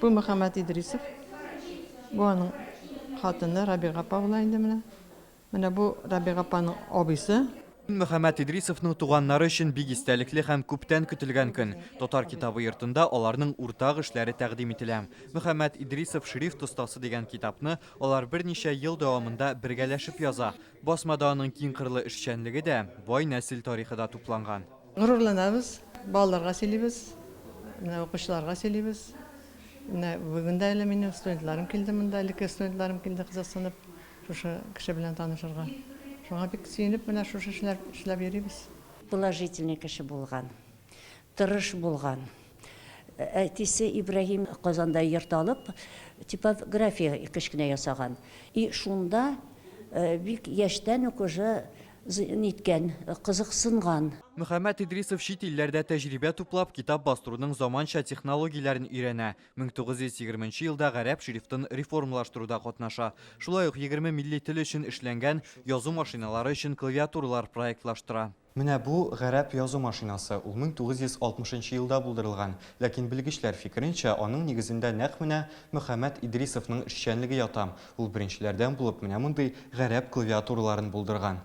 Бу Мөхәммәт Идрисов. Бу аның хатыны Рабига апа була инде менә. Менә бу Рабига апаның абыйсы. Мөхәммәт Идрисовның туганнары өчен бик истәлекле һәм күптән көтелгән көн. Татар китабы йортында аларның уртак эшләре тәкъдим ителә. Мөхәммәт Идрисов шрифт остасы дигән китапны алар берничә ел дәвамында бергәләшеп яза. Басмада аның киңкырлы эшчәнлеге дә, бай нәсел тарихы да тупланган. Горурланабыз, балаларга сөйлибез, менә укучыларга сөйлибез. Менә бүген дә әле минем студентларым килде монда, элекке студентларым килде кызыксынып шушы кеше белән танышырга. Шуңа бик сөенеп менә шушы эшләр эшләп йөрибез. Положительный кеше булган, тырыш булган. Әтисе Ибраһим Казанда йорт алып, типография кечкенә ясаган. И шунда бик яшьтән үк уже ниткән, кызыксынган. Мөхәммәт Идрисов чит илләрдә тәҗрибә туплап, китап бастыруның заманча технологияләрен өйрәнә. 1920 нчы елда гарәп шрифтын реформалаштыруда катнаша. Шулай ук егерме милли тел өчен эшләнгән язу машиналары өчен клавиатуралар проектлаштыра. Менә бу, гарәп язу машинасы, ул 1960 нчы елда булдырылган, ләкин белгечләр фикеренчә, аның нигезендә нәкъ менә Мөхәммәт Идрисовның эшчәнлеге ята, ул беренчеләрдән булып менә мондый гарәп клавиатураларын булдырган.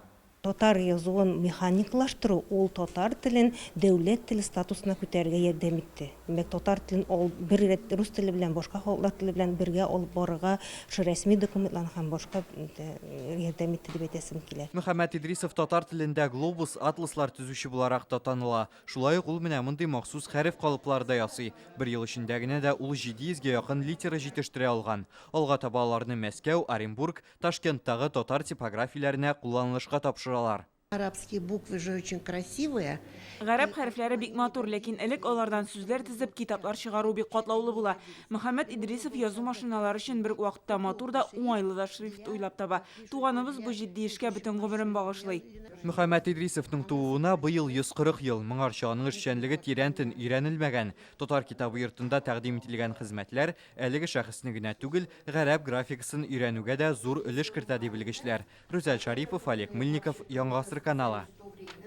Татар язуын механикалаштыру ул татар телен дәүләт теле статусына күтәрергә ярдәм итте. Менә татар телен ал бер рәт рус теле белән, башка халыклар теле белән бергә алып барырга шул рәсми документларны һәм башка ярдәм итте дип әйтәсем килә. Мөхәммәт Идрисов татар телендә глобус, атласлар төзүче буларак та таныла. Шулай ук ул менә мондый махсус хәреф калыплары да ясый. Бер ел эчендә генә дә ул 700 гә якын литера җитештерә алган. Алга таба аларны Мәскәү, Оренбург, Ташкенттагы татар типографияләренә кулланылышка тапшыралар. Арабские буквы же очень красивые. Гарәп хәрефләре бик матур, ләкин элек алардан сүзләр тезеп, китаплар чыгару бик катлаулы була. Мөхәммәт Идрисов язу машиналары өчен бер үк вакытта матур да, уңайлы да шрифт уйлап таба. Туганыбыз бу җитди эшкә бөтен гомерен багышлый. Мөхәммәт Идрисовның тууына быел 140 ел, моңарчы аның эшчәнлеге тирәнтен өйрәнелмәгән. Татар китабы йортында тәкъдим ителгән хезмәтләр Әлеге шәхесне генә түгел, гарәп графикасын өйрәнүгә дә зур өлеш кертә, ди белгечләр. Рүзәл Шарипов, Олег Мыльников, Яңа гасыр каналы.